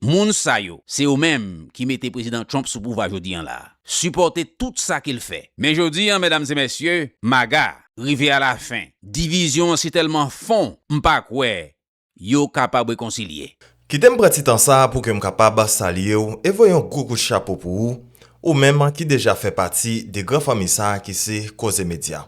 Moun sa yo, se yo menm ki mete Prezidan Trump sou pouvwa jodi an la. Sipòte tout sa ke l fè. Men jodi an, medam e mesye, MAGA, rive a la fen. Divizyon an si tèlman fon, m pa kwè yo kapab rekonsilye. Kite m pran ti tan sa pou ke m kapab salye w e voye yon gwo kout chapo pou ou, ou menm ki deja fè pati de gran fanmi sa ki se Koze Medya.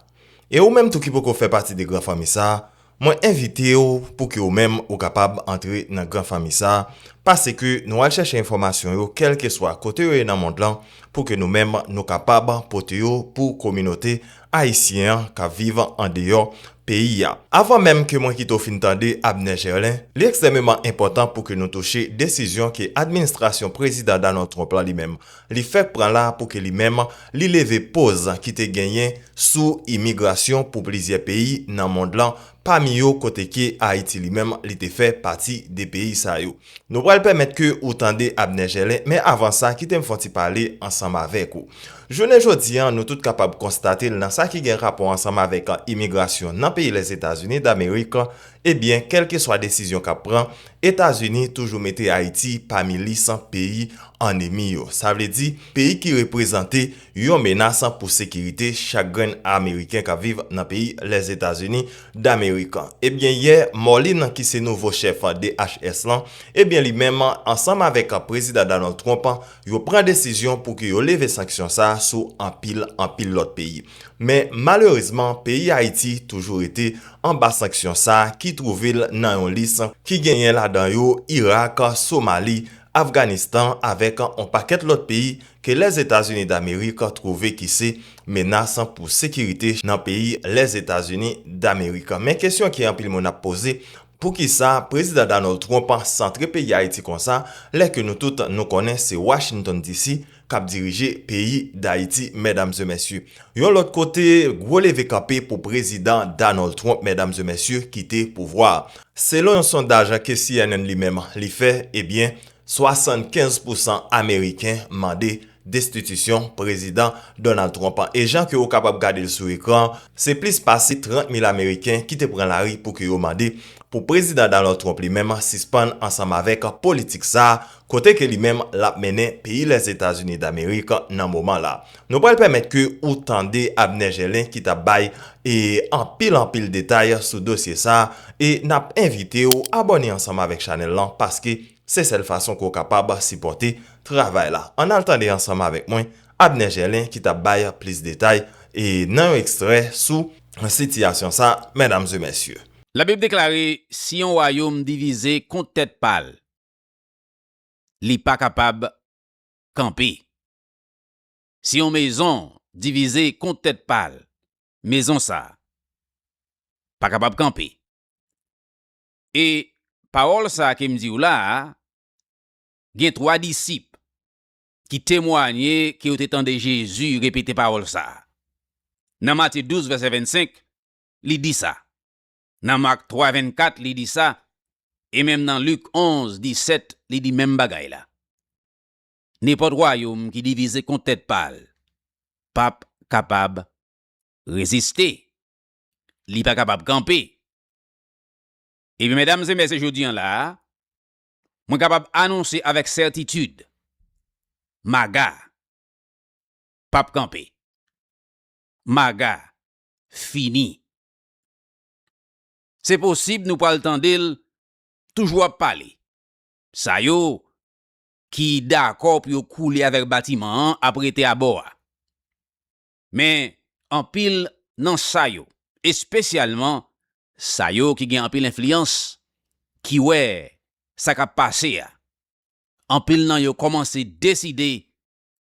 E ou menm tou ki poko fè pati de gran fanmi sa, mwen envite w pou ke ou menm ou kapab antre nan gran fanmi sa, pase ke nou al chèche enfòmasyon yo kèlkeswa kote yo ye nan mond lan pou ke nou menm nou kapab pote yo pou kominote Ayisyen an k ap viv andeyò peyi a. Avan menm ke mwen kite w fin tande Abner Gerlin, li ekstrèmeman enpòtan pou ke nou touche desizyon ke administrasyon Prezidan Donald Trump la li menm li fèk pran la pou ke li menm li leve poz ki te genyen sou imigrasyon pou plizyè peyi nan mond lan pami yo kote ke Ayiti li menm li te fè pati de peyi sa yo. Nou pral pèmèt ke ou tande Abner Gelin, men avan sa kite m fon ti pale ansanm avèk ou. Jounen jodi an nou tout kapab konstate l nan sa ki gen rapò ansanm avèk imigrasyon nan peyi Lèzetazini Damerik, ebyen kèlkeswa desizyon k ap pran, Etazini toujou mete Ayiti pami lis peyi annemi yo. Sa vle di, peyi ki reprezante. Yon menas pou sekirite chak grenn ameriken k ap viv nan peyi Lèzetazini Damerik. Ebyen yè, Morlin ki se nouvo chèf DHS lan, ebyen li menm ansanm avèk Prezidan Donald Trump yo pran desizyon pou ke yo leve sanksyon sa sou anpil anpil lòt peyi. Men malerezman peyi Ayiti toujou rete anba sanksyon sa ki twouve l nan yon lis ki genyen ladan yo Irak, Somali Afganistan avèk on pakèt lòt peyi ke Lèzetazini Damerik twouve ki se menas pou sekirite nan peyi Lèzetazini Damerik. Men kesyon ke anpil moun ap poze, poukisa Prezidan Donald Trump santre peyi Ayiti konsa lè ke nou tout nou konnen se Washington DC kap dirije peyi dayiti medam ze mesye yon lot kote gwo leve kanpe pou prezidan Donald Trump medam ze mesye kite pouvwa selon yon sondaj ke cnn li menm li fè ebyen 75 pou 100 ameriken mande destitisyon prezidan Donald Trump an e jan ke ou kapab gadel sou ekran se plis pase 30 mil ameriken ki te pran lari pou ke yo mande pou prezidan Donald Trump li menm sispann ansanm avek politik sa. kote ke li menm lap mennen peyi Lèzetazini Damerik nan moman la. Nou pral pèmèt ke ou tande Abner Gelin ki tap bay e anpil anpil detay sou dosye sa e nap envite ou abòne ansanm avèk chanèl lan paske se sèl fason ke ou kapab sipòte travay la. Ann al tande ansanm avèk mwen Abner Gelin ki tap bay plis detay e nan yon ekstrè sou sitiyasyon sa mèdames e mèsye. Labib deklare, Si yon wayom divize kont tèt pa l, li pa kapab kanpe. Si yon mezon divize kont tèt pa l, mezon sa a pa kapab kanpe. E pawòl sa a ke m di w la a, gen twa disip ki temwanye ke yo te tande Jezi repete pawòl sa a. Nan Matye 12, vèsè 25, li di sa, Nan Mak 3, 24, li di sa, e menm nan Lik 11, 17, li di menm bagay la. Nenpòt wayòm ki divize kont tèt pa l p ap kapab reziste, li pa kapab kanpe. Ebyen, medam e mèsye, jodi an la a, mwen kapab anonse avèk sètitid, MAGA p ap kanpe. MAGA fini Se posib nou pral tande l toujou ap pale. Sa yo ki dakò pou yo koule avèk batiman an ap rete abò a. Men, anpil nan sa yo, espesyalman sa yo ki gen anpil enfliyans, ki wè sa k ap pase a, anpil nan yo kòmanse deside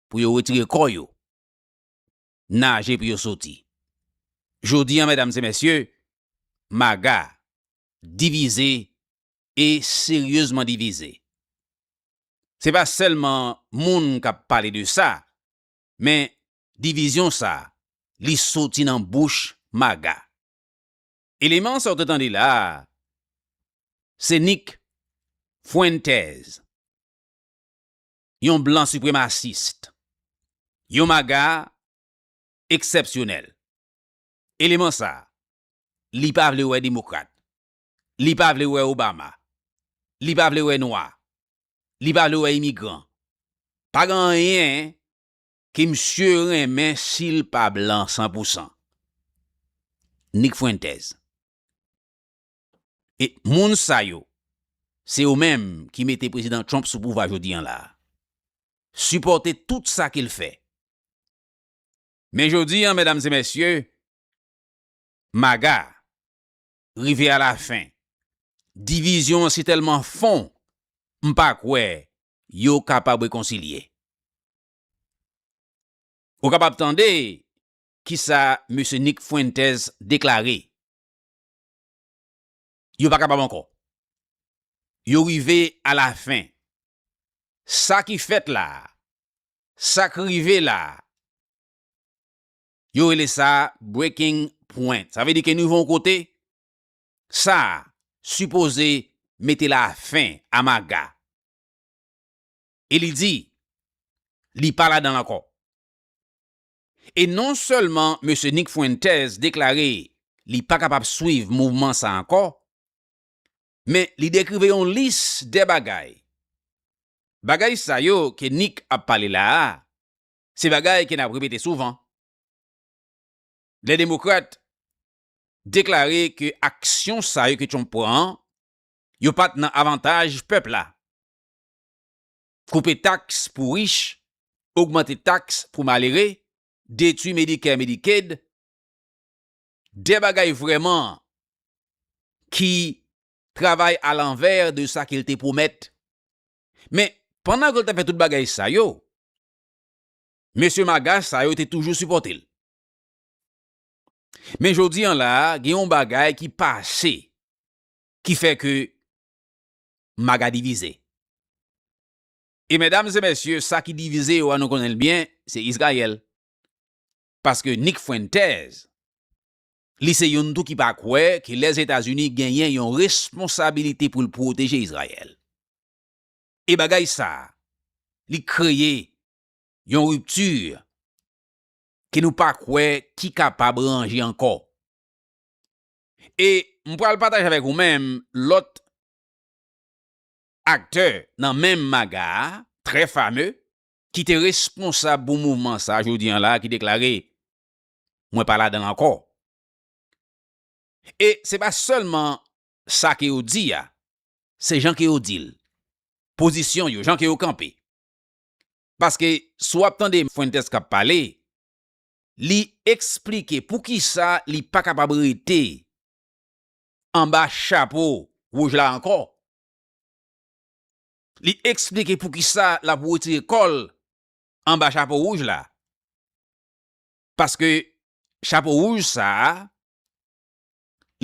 pou yo retire kò yo. naje pou yo soti. Jodi an medam se mesye, MAGA divize e seryezman divize. Se pa selman moun kap pale de sa, men divizyon sa li soti nan bouch MAGA. Eleman sa ou te tande la a, se Nick Fuentes. yon blan sipremasist, yon maga eksèpsyonèl. Eleman sa a, li pa vle wè demokrat, li pa vle wè Obama, li pa vle wè nwa, li pa vle wè imigran. Pa gen anyen ke misye renmen si l pa blan san pou san. Nick Fuentes. E moun sa yo, se yo menm ki mete Prezidan Trump sou pouvwa jodi an la a. Sipòte tout sa ke l fè. Men jodi an, medam e mesye, MAGA rive a la fen. Divizyon an si tèlman fon, m pa kwè yo kapab rekonsilye. Ou kapab tande ki sa Mesye Nick Fuentes deklare. Yo pa kapab ankò. Yo rive a la fen. Sa ki fèt la a, sa k rive la a, yo rele sa breaking point. Sa vle di ke nou rive yon kote, sa a sipoze mete la fen a maga. E li di, li pa ladan l ankò. E non sèlman Mesye Nick Fuentes deklare li pa kapab swiv mouvman sa ankò, men li dekrive yon lis de bagay. Bagay sa yo ke Nick ap pale la a, se bagay ke nap repete souvan. Lè Demokrat deklare ke aksyon sa yo ke Trump pran an, yo pat nan avantaj pèp la. koupe taks pou rich, ogmante taks pou malere, detwi Medicare Medicaid, de bagay vrèman ki travay a lanvè de sa ke l te pwomèt. Men, pandan ke l t ap fè tout bagay sa yo, mesye maga sa yo te toujou sipòte l. Men jodi an la a, gen yon bagay ki pase ki fè ke Maga divize. E medam e mesye sa ki divize yo a nou konnen l byen se Izrayèl. Paske Nick Fuentes li se youn tou ki pa kwè ke Lèzetazini genyen yon responsabilite pou l pwoteje Izrayèl. E bagay sa li kreye yon ripti ke nou pa kwè ki kapab ranje ankò. E m pral pataje avèk ou menm lòt aktè nan menm maga a, trè fame, ki te responsab pou mouvman sa jodi an la ki deklare, Mwen pa ladan l ankò. E se pa sèlman sa ke yo di a, se jan ke yo di l, pozisyon yo, jan ke yo kanpe. Paske si w ap tande Fuentes k ap pale, Li eksplike poukisa li pa kapab rete anba chapo wouj la ankò. Li eksplike poukisa l ap wetire kò l anba chapo wouj la. Paske chapo wouj sa a,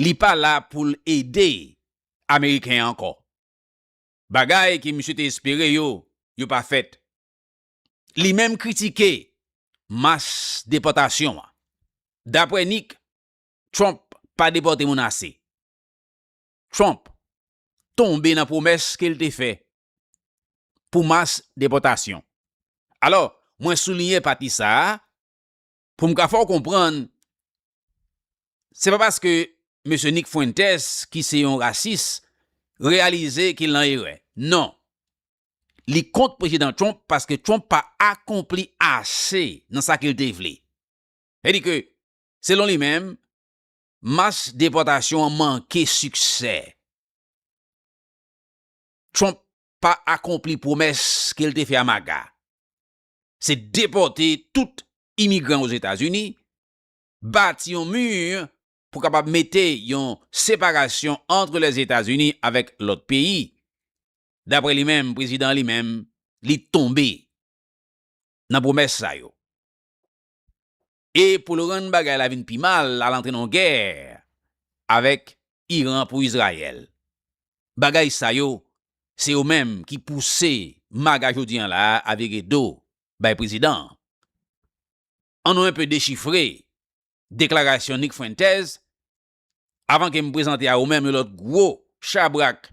li pa la pou l ede Ameriken ankò. Bagay ke misye te espere yo, yo pa fèt. Li menm kritike mas depòtasyon an. Dapre Nick, Trump pa depòte moun ase. Trump tonbe nan pwomès ke l te fè pou mas depòtasyon. Alò, mwen souliyen pati sa a pou m ka fè w konprann se pa paske Mesye Nick Fuentes ki se yon rasis reyalize ke l nan erè. Non, li kont Prezidan Trump paske Trump pa akonpli ase nan sa ke l te vle. Sa di ke, selon li menm, mas depòtasyon an manke siksè. Trump pa akonpli pwomès ke l te fè a MAGA. Se depòte tout imigran Ozetazini, bati yon mi pou kapab mete yon separasyon antre Lèzetazini avèk lòt peyi. Daprè li menm, prezidan an li menm, li tonbe nan pwomès sa yo. E pou l rann bagay la vin pi mal, l al antre nan yon gè avèk Iran pou Izrayèl. Bagay sa yo, se yo menm ki pouse MAGA jodi an la a a vire do bay prezidan an. An nou enpe dechifre deklarasyon Nick Fuentes avan ke m prezante a ou menm yon lòt gwo chabrak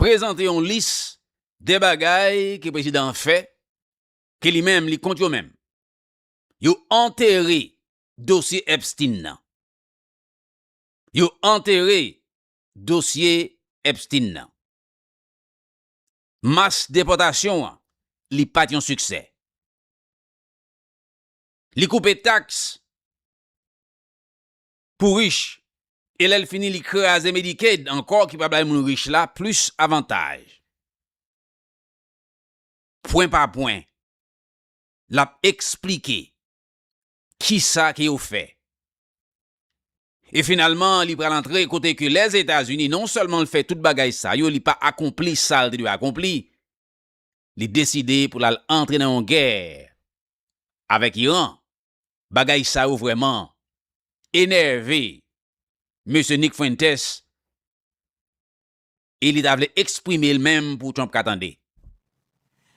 prezante yon lis de bagay ke prezidan an fè ke li menm li kont yo men yo antere dosye Epstein nan. Yo antere dosye Epstein nan. Mas depòtasyon an li pat yon siksè. Li koupe taks pou rich e lè l fini li kraze Medicaid ankò ki pa bay moun rich la plis avantaj. Pwen pa pwen, l ap eksplike kisa ke yo fè. E finalman li pral antre kote ke Lèzetazini non sèlman l fè tout bagay sa yo li pa akonpli sa l te dwe akonpli, li deside pou l al antre nan yon gè avèk Iran Bagay sa yo vrèman enève Mesye Nick Fuentes e li ta vle eksprime l menm pou Trump ka tande.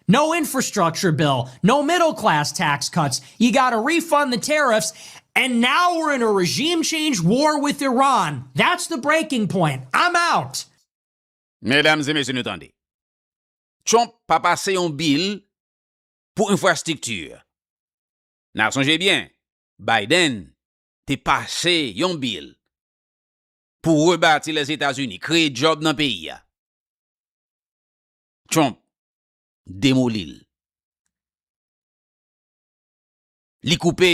No infrastructure bill, no middle class tax cuts, you gotta refund the tariffs and now we're in a regime change war with Iran. That's the breaking point. I'm out! Medam e mesye nou tande. Trump pa pase yon bill pou infrastructure. N ap sonje byen, Biden te pase yon bil pou rebati Lèzetazini, kreye djòb nan peyi a. Trump demoli l. Li koupe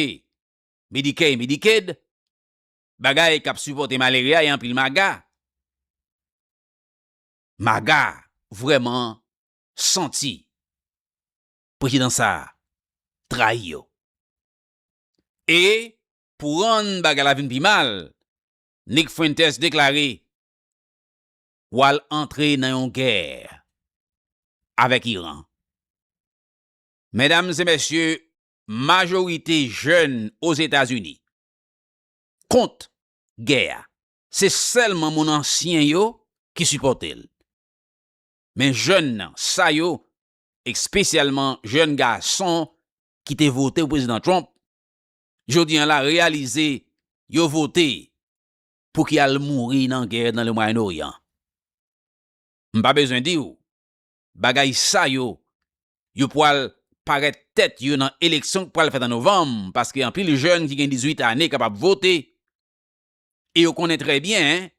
Medicare e Medicaid, bagay k ap sipòte malere a e anpil maga. Maga vrèman santi prezidan sa a trayi yo. E pou rann bagay la vin pi mal, Nick Fuentes deklare w al antre nan yon gè avèk Iran. Medam e mesye, majorite jèn Ozetazini kont gè a. Se sèlman moun ansyen yo ki sipòte l. Men jèn sa yo espesyalman jèn gason ki te vote pou Prezidan Trump, jodi an la reyalize yo vote pou ki al mouri nan gè nan le Mwayen Oryan. M pa bezwen di ou, bagay sa yo, yo pwal parèt tèt yo nan eleksyon k pwal fèt an Novanm, paske anpil jèn ki gen 18 ane kapab vote, e yo konnen trè byen,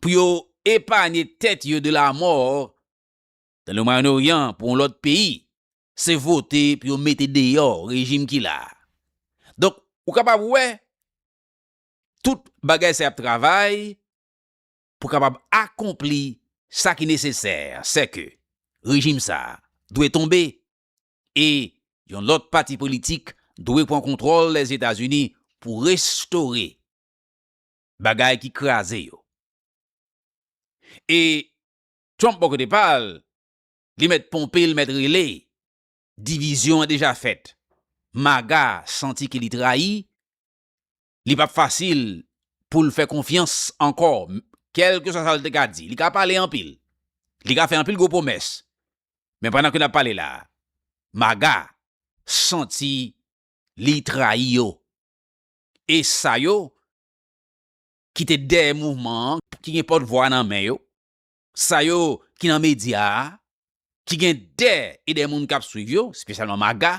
pou yo epanye tèt yo de lamò nan le Mwayen Oryan pou yon lòt peyi, se vote pou yo mete deyò rejim ki la a. Donk, ou kapab wè tout bagay sa y ap travay pou kapab akonpli sa ki nesesè, sè ke rejim sa a dwe tonbe e yon lòt pati politik dwe pran kontwòl Lèzetazini pou restore bagay ki kraze yo. E Trump bò kote pa l, li mèt ponpe, li mèt rele, divizyon an deja fèt. Maga santi ke li trayi, li pap fasil pou l fè konfyans ankò, kèlkeswa sa l te ka di. Li ka pale anpil, li ka fè anpil gwo pwomès, men pandan ke n ap pale la a, maga santi li trayi yo. e sa yo ki te dèyè mouvman an, ki gen pòt vwa nan men yo, sa yo ki nan medya a, ki gen dè e dè moun k ap swiv yo, espesyalman MAGA,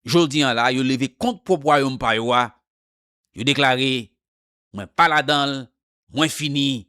jodi an la yo leve kont pwòp wayòm pa yo a, yo deklare, mwen pa ladan l, mwen fini,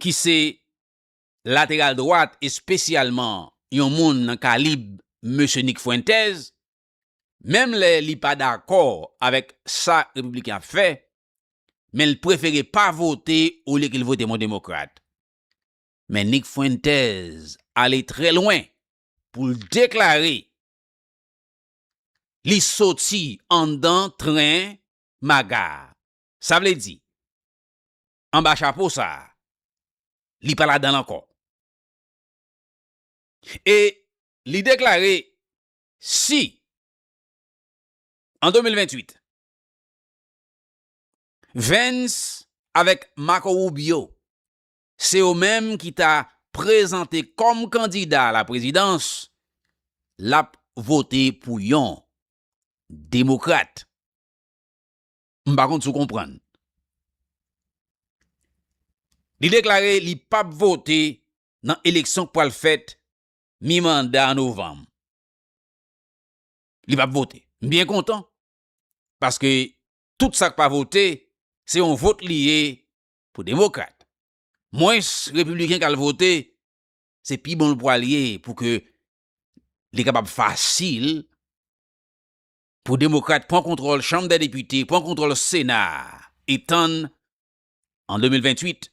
ki se lateral dwat espesyalman yon moun nan kalib mesye Nick Fuentes, menm lè li pa dakò avèk sa Repibliken ap fè, men l prefere pa vote olye ke l vote yon Demokrat. Men Nick Fuentes ale trè lwen pou l deklare li soti anndan tren MAGA a. Sa vle di, anba chapo sa a, li pa ladan l ankò. E li deklare si an 2028, Vance avèk Marco Rubio se yo menm ki ta prezante kòm kandida a la prezidans, l ap vote pou yon demokrat. M pa konn si w konprann. Li deklare li pap vote nan eleksyon k pral fèt mi manda an novanm. Li pap vote. M byen kontan paske tout sa k pa vote se yon vot li ye pou demokrat. Mwens repibliken k al vote se pi bon l pral ye pou ke li kapab fasil pou Demokrat pran kontwòl Chanm dè Depite, pran kontwòl Sena a e tann an 2028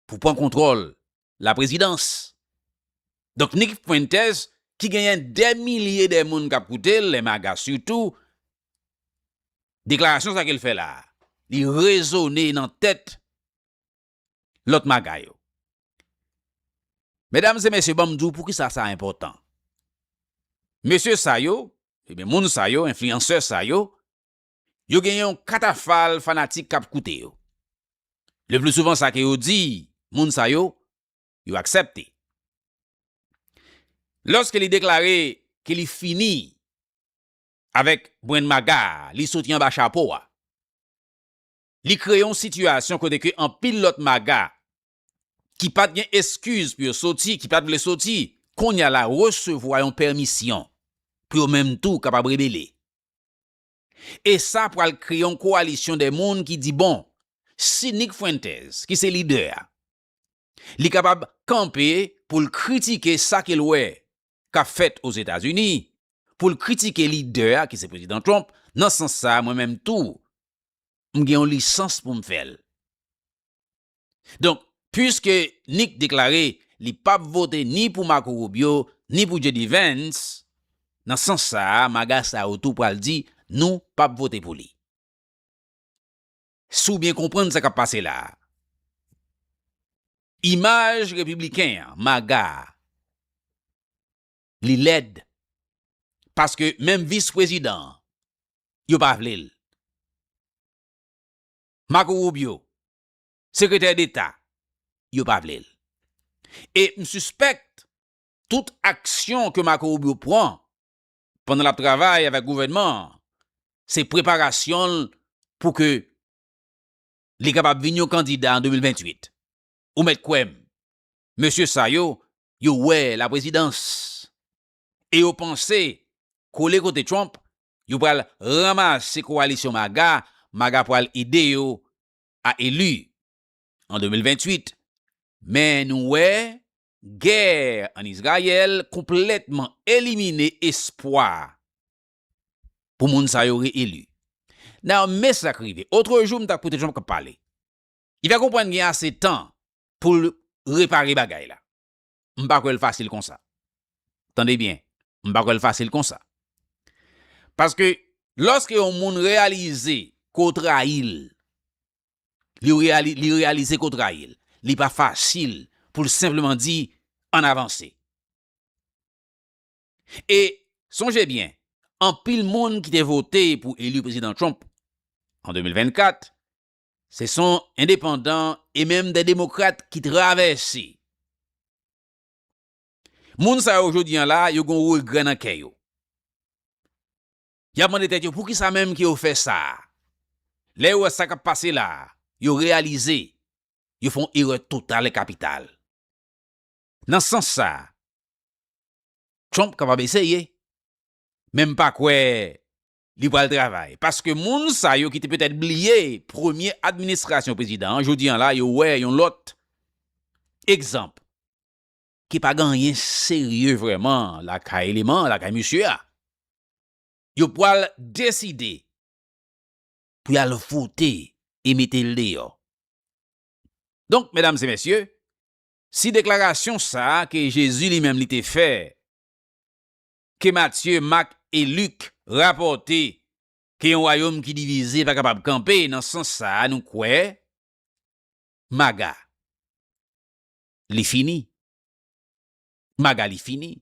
pou pran kontwòl Laprezidans. Donk Nick Fuentes ki genyen dè milye dè moun k ap koute l, lè maga sitou, deklarasyon sa ke l fè la a, li rezone nan tèt lòt maga yo. Medam e mesye banm di w poukisa sa enpòtan. Mesye sa yo, ebyen moun sa yo, enfliyansè sa yo, yo gen yon katafal fanatik kap koute yo. Le pli souvan sa ke yo di moun sa yo, yo aksèpte. Lòske li deklare ke li fini avèk brenn maga a, li soti anba chapo a. Li kreye yon sitiyasyon kote ke anpil lòt maga ki pat gen eskiz pou yo soti, ki pat vle soti, kounya la resevwa yon pèmisyon pou yo menm tou kapab rebele. E sa pral kreye yon koalisyon de moun ki di bon, si Nick Fuentes ki se lidè a, Li kapab kanpe pou l kritike sa ke l wè k ap fèt Ozetazini, pou l kritike lidè a ki se Prezidan Trump, nan sans sa a mwen menm tou m gen yon lisans pou m fè l. Donk, puiske Nick deklare li p ap vote ni pou Marco Rubio ni pou JD Vance, nan sans sa a maga sa yo tou pral di nou p ap vote pou li. Si w byen konprann sa k ap pase la a, imaj repibliken an, MAGA a, li lèd paske menm vis prezidan an, yo pa vle l. Marco Rubio, sekretè deta, yo pa vle l. E m sispèk tout aksyon ke Marco Rubio pran pandan l ap travay avèk gouvènman an, se preparasyon l pou ke li kapab vin yon kandida an 2028. Ou mèt kwè m, mesye sa yo, yo wè laprezidans e yo panse kole kote Trump, yo pral ranmase kowalisyon MAGA, MAGA pral ede yo a eli an 2028. Men nou wè Gè an Izrayèl konplètman elimine espwa pou moun sa yo re-eli. Nan men sa k rive. Otre jou m t ap koute Trump k ap pale. Li fè konprann gen ase tan pou l repare bagay la. M pa kwè l fasil konsa. Tande byen, m pa kwè l fasil konsa. Paske, lòske yon moun reyalize ke w trayi l, li reyalize ke w trayi l, li pa fasil pou l senpleman di ann avanse. E sonje byen, anpil moun ki te vote pou eli Prezidan Trump an 2024, se son endepandan e menm de demokrat ki travèse. Moun sa yo jodi an la, yo gen yon regrè nan kè yo. Y ap mande tèt yo poukisa menm ke yo fè sa a. Lè yo wè sa k ap pase la a, yo reyalize yo fè yon erè total e kapital. Nan sans sa a, Trump kapab eseye, men m pa kwè li pral travay, paske moun sa yo ki te petèt bliye premye administrasyon prezidan an, jodi an la yo wè yon lòt egzanp ke pa gen anyen serye vrèman lakay eleman lakay mesye a. yo pwal deside pou yal vote e metel deyò. Donk medam e mesye, si deklarasyon sa ke Jezi li menm li te fè, ke Matye, Mak e Lik rapòte ke yon wayom ki divize pa kapab kanpe nan sans sa nou kwè maga li fini. Maga li fini.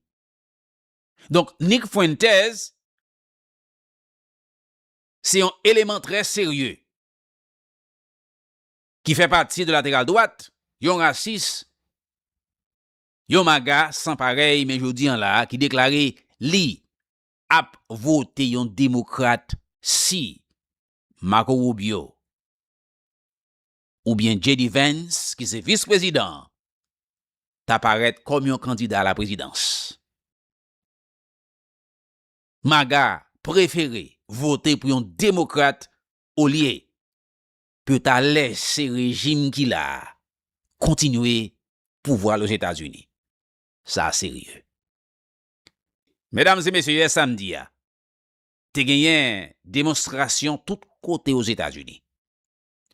Donk Nick Fuentes se yon eleman trè serye ki fè pati de lateral dwat, yon rasis, yon maga san parèy men jodi an la a ki deklare li ap vote yon demokrat si Marco Rubio oubyen JD Vance ki se vis prezidan an ta parèt kòm yon kandida a la prezidans. Maga prefere vote pou yon demokrat olye pou yo ta lèse rejim ki la a kontinye pouvwa l Ozetazini. Sa serye. Medam e mesye yè samdi a te genyen demonstrasyon tout kote Ozetazini.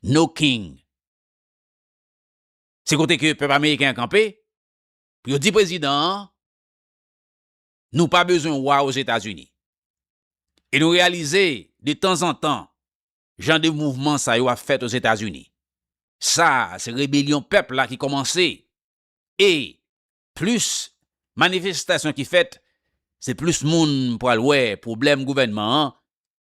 No King. Se kote ke pèp ameriken an kanpe, pou yo di prezidan an, nou pa bezwen wa Ozetazini. E nou reyalize, de tanzantan, jan de mouvman sa yo ap fèt Ozetazini. Sa a, se rebelyon pèp la ki kòmanse. E, plis manifestasyon ki fèt, se plis moun pral wè pwoblèm gouvènman an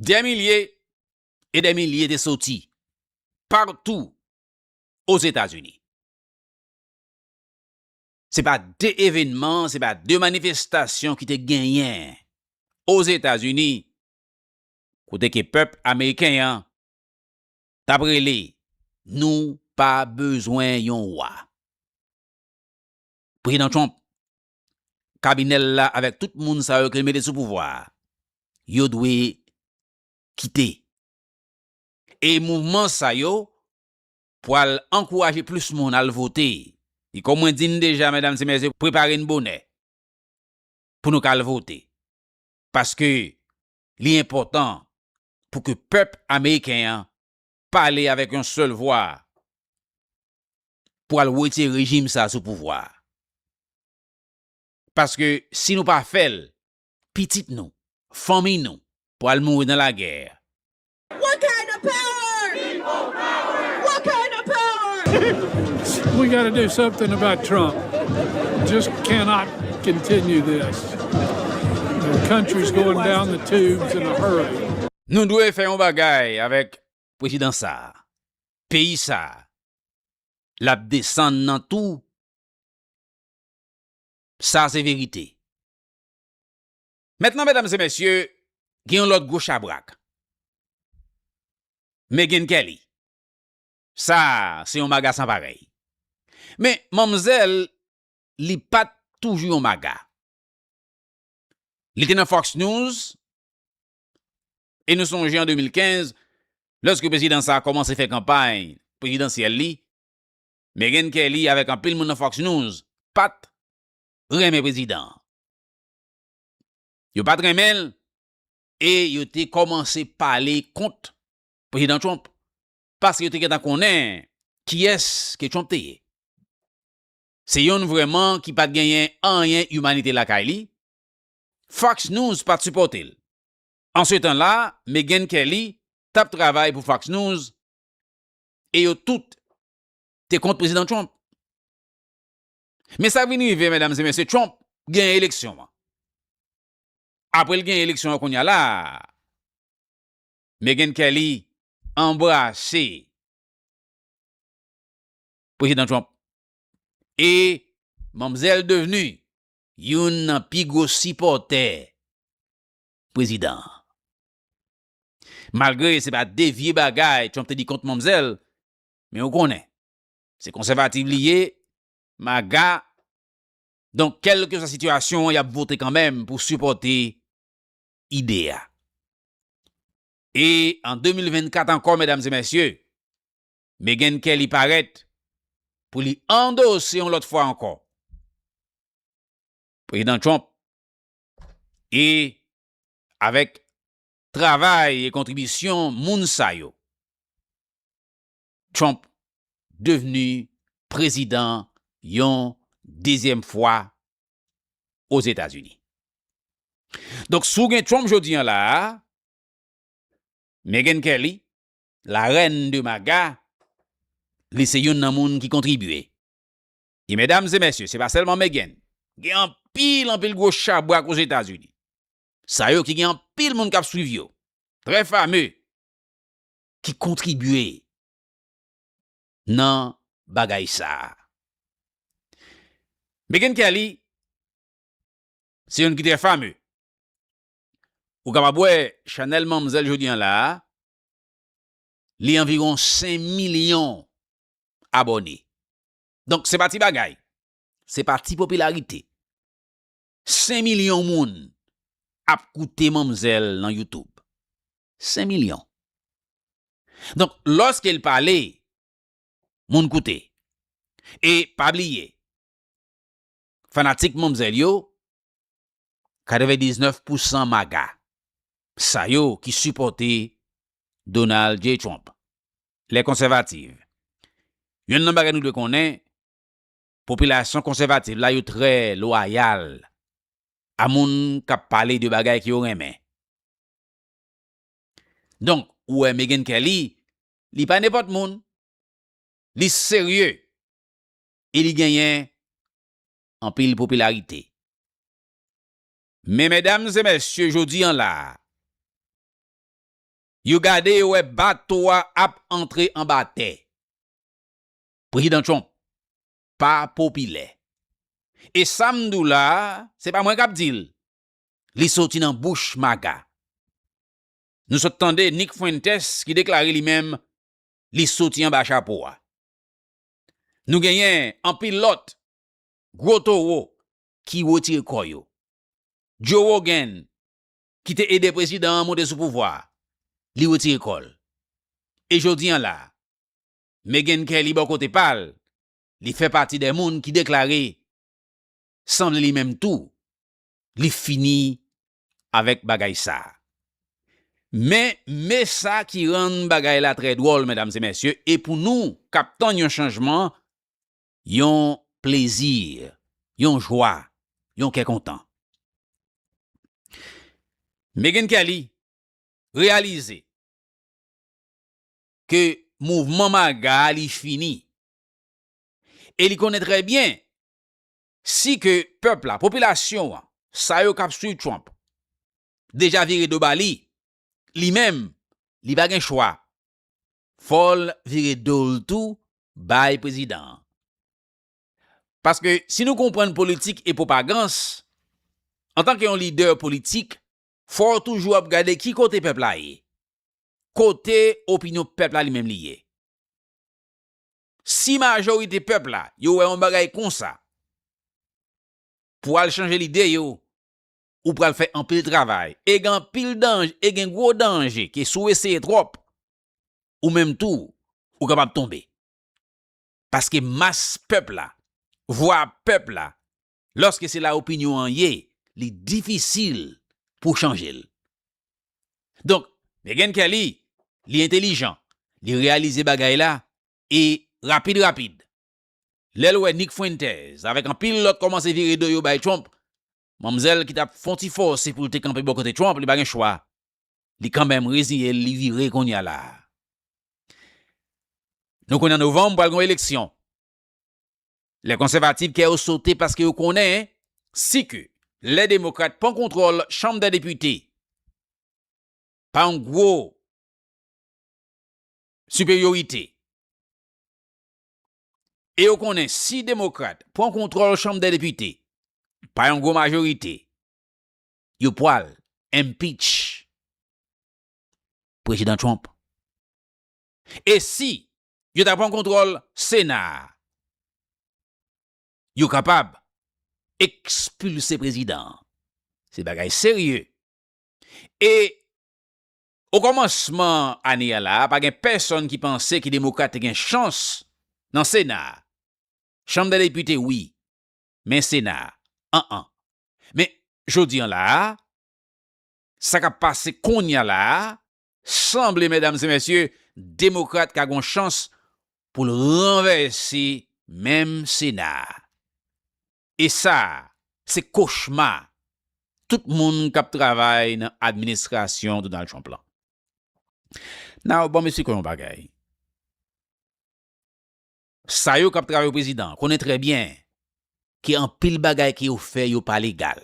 Dè milye e dè milye te soti patou Ozetazini. Se pa de evenman, se pa de manifestasyon ki te genyen Ozetazini kote ke pèp ameriken an t ap rele nou pa bezwen yon wa. Prezidan Trump kabinè l la avèk tout moun sa yo ke l mete sou pouvwa a, yo dwe kite. E mouvman sa yo pwal ankouraje plis moun al vote. E kòm mwen di n deja, medam e mesye, prepare n bonè pou nou ka al vote. Paske li enpòtan pou ke pèp ameriken an pale avèk yon sèl vwa pou al wete rejim sa sou pouvwa a. Paske si nou pa fè l, pitit nou, fanmiy nou pral mouri nan lagè. What kind of power? People power! What kind of power? We gotta do something about Trump. Just cannot continue this. The country's going down the tubes in a hurry. Nou dwe fè yon bagay avèk prezidan sa, peyi sa lap desann nan tou sa se verite. Mentnan medam se mesye gen yon lot gwo chabrak Megyn Kelly sa se yon maga san parèy men manmzèl li pat toujou yon maga li te nan Fox News E nou sonje an 2015, lèske prezidan sa a kòmanse fè kanpay prezidansyèl li, Meghan Kelly avèk anpil moun nan Fox News pat renmen prezidan an. Yo pat renmen l e yo te kòmanse pale kont Prezidan Trump paske yo te gentan konnen kiyès ke Trump te ye. Se yonn vrèman ki pat genyen anyen imanite lakay li, Fox News pa t sipòte l. Ansetan la, Megyn Kelly t ap travay pou Fox News e yo tout te kont Prezidan Trump. Men sa k vin rive, medam e mesye, Trump genyen eleksyon an. Apre l genyen eleksyon an kounya la, Megyn Kelly anbrase Prezidan Trump e manmzèl devni youn nan pi gwo sipòtè prezidan an. Malgre se pa de vye bagay Trump te di kont manmzèl, men ou konnen, se konsèvativ li ye, MAGA, donk kèlkeswa sitiyasyon an y ap vote kanmenm pou sipòte ide a. E an 2024 ankò medam e mèsye, Meghan Kelly parèt pou li andose yon lòt fwa ankò Prezidan Trump e avèk travay e kontribisyon moun sa yo, Trump devni prezidan yon dezyèm fwa Ozetazini. Donk si w gen Trump jodi an la a, Meghan Kelly la reine de maga li se youn nan moun ki kontribye e medam e mesye se pa selman Meghan gen anpil anpil gwo chabrak ozetazini sa yo ki gen anpil moun kap swiv yo trè fame ki kontribye nan bagay sa Meghan Kelly se youn ki trè fame ou kapab wè chanel manmzèl jodi an la Li anviron 5 milyon abòne. Donk se pa ti bagay. Se pa ti popilarite. 5 milyon moun ap koute manmzèl nan YouTube. 5 milyon. Donk lòske l pale, moun koute. E pa bliye, fanatik manmzèl yo 99 pousan maga sa yo ki sipòte Donald J. Trump, les conservatives. Yonn nan bagay nou dwe konnen, popilasyon konsèvativ la yo trè lwayal a moun k ap pale de bagay ke yo renmen. Donk, ou wè Megyn Kelly, li pa nenpòt moun. Li serye e li genyen anpil popilarite. Men medam e mesye jodi an la a, yo gade yo wè bato a ap antre anba tè. Prezidan Trump pa popilè. E sa m di w la a, se pa mwen k ap di l, li soti nan bouch MAGA. Nou sot tande Nick Fuentes ki deklare li menm li soti anba chapo a. Nou genyen anpil lòt Gwo towo ki wotire kò yo. Joe Rogan ki te ede prezidan an monte sou pouvwa a, li wotire kò l. E jodi an la a, Meghan Kelly bò kote pa l, li fè pati de moun ki deklare sanble li menm tou, li fini avèk bagay sa a. Men, me sa ki rann bagay la trè dwòl, medam e mesye, e pou nou k ap tann yon chanjman, yon plezi, yon jwa, yon kè kontan. Meghan Kelly reyalize ke mouvman MAGA a li fini e li konnen trè byen si ke pèp la, popilasyon an, sa yo k ap swiv Trump deja vire do ba li, li menm li pa gen chwa Fòl vire dol tou bay prezidan an. Paske si nou konprann politik e pwopagans, antanke yon lidè politik, fòw toujou ap gade ki kote pèp la ye. Kote opinyon pèp la li menm li ye. Si majorite pèp la yo wè yon bagay konsa, pou al chanje lide yo, ou pral fè anpil travay e gen anpil danj e gen gwo danje ke si w eseye twòp ou menm tou ou kapab tonbe paske mas pèp la vwa pèp la lòske se la opinyon an ye li difisil pou w chanje l donk Meghan Kelly li entelijan li reyalize bagay la e rapid rapid lè l wè Nick Fuentes avèk anpil lòt kòmanse vire do yo bay Trump Manmzèl ki tap fon ti fòse poul te kanpe bò kote Trump li pa gen chwa li kanmèm rezinyel li vire kounya la Nou konn an novanm pral gon eleksyon lè konsèvativ kè yo sote paske yo konnen si ke lè demokrat pran kontròl chanm dè depite pa yon gwo siperyorite. e yo konnen si Demokrat pran kontwòl Chanm dè Depite pa yon gwo majorite, yo pwal impeach Prezidan Trump. E si yo ta pran kontwòl Sena a, yo kapab ekspilse Prezidan an. Se bagay serye. E Okòmansman ane a la a, pa gen pèsonn ki panse ke Demokrat te gen chans nan Sena a. Chanm dè Depite wi, men Sena a, an an. Men, jodi an la a, sa k ap pase kounye a la a, sanble, medam e mesye, Demokrat ka gon chans pou l ranvèse menm Sena a. E sa a, se kochma tout moun k ap travay nan administrasyon Donald Trump lan. Now, banm esplike w yon bagay. Sa yo k ap travay pou prezidan an konnen trè byen ke anpil bagay ke yo fè yo pa legal.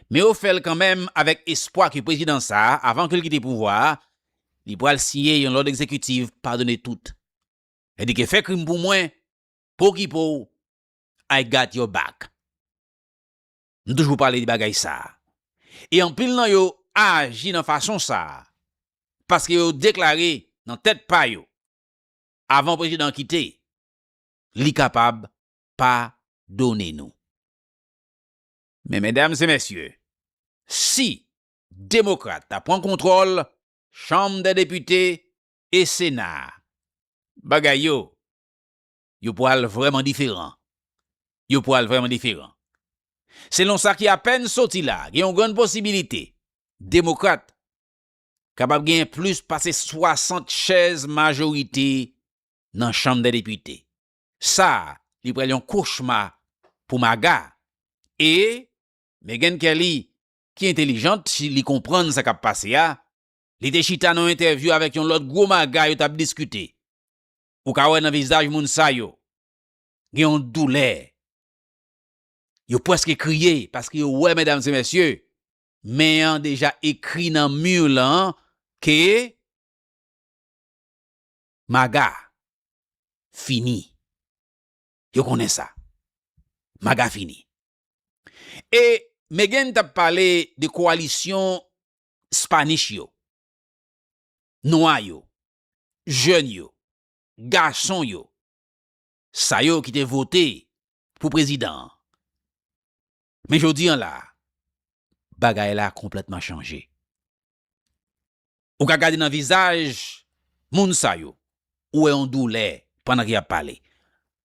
Men yo fè l kanmenm avèk espwa ke prezidan sa a, avan ke l kite pouvwa a, li pral siyen yon lòd egzekitiv padone tout. Sèdike fè krim pou mwen, pou okipe w, I got your back. M toujou pale de bagay sa a. E anpil nan yo aji nan fason sa a paske yo deklare nan tèt pa yo avan prezidan an kite, li kapab padone nou. Men medam e mesye, si demokrat ta pran kontwòl chanm dè depite e sena a, bagay yo yo pral vrèman diferan. Yo pral vrèman diferan. Selon sa ki apèn soti la, gen yon grann posibilite Demokrat kapab genyen plis pase 60 chèz majorite nan Chanm dè Depite. Sa a, li pral yon kochma pou MAGA. E, Meghan Kelly, ki entelijant, si li konprann sa k ap pase a, li te chita nan yon entèvyou avèk yon lòt gwo MAGA yo t ap diskite. Ou ka wè nan vizaj moun sa yo gen yon doulè. Yo pwèske kriye paske yo wè medam se mesye men an deja ekri nan mur lan ke Maga fini. Yo konnen sa. Maga fini. E Meghan tap pale de koalisyon Spanish yo. Nwa yo. jèn yo, gason yo, sa yo ki te vote pou prezidan an. Men jodi an la, bagay la konplètman chanje. Ou ka gade nan vizaj moun sa yo, ou wè yon doulè pandan ke y ap pale.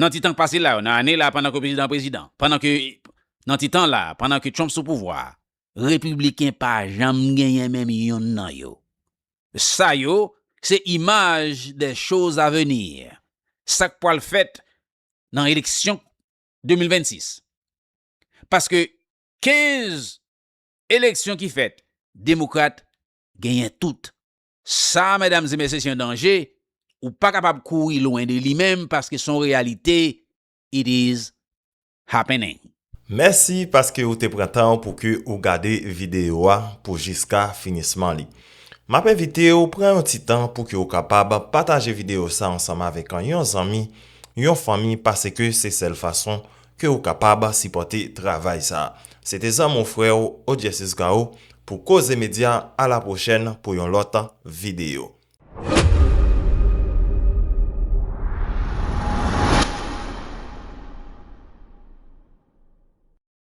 Nan ti tan k pase la yo, nan ane la pandan ke prezidan an prezidan, pandan ke, nan ti tan la, pandan ke Trump sou pouvwa a, Repibliken pa janm genyen menm youn nan yo. Sa yo, se imaj de choz a venir, sa k pwal fèt nan eleksyon 2026. Paske 15 eleksyon ki fèt, Demokrat genyen tout Sa a medam e mesye se yon danje, ou pa kapab kouri lwen de li menm paske son reyalite it is happening. Mèsi paske ou te pran tan w pou ke ou gade video a pou jiska finisman li. Map envite w pran yon ti tan pou ke ou kapab pataje video sa ansanm avèk yon zanmi, yon fanmi pase ke se sèl fason ke ou kapab sipòte travay sa. Se te zanmi w frè w Odysseus Gao pou Koze Media a la pwochèn pou yon lòt videyo.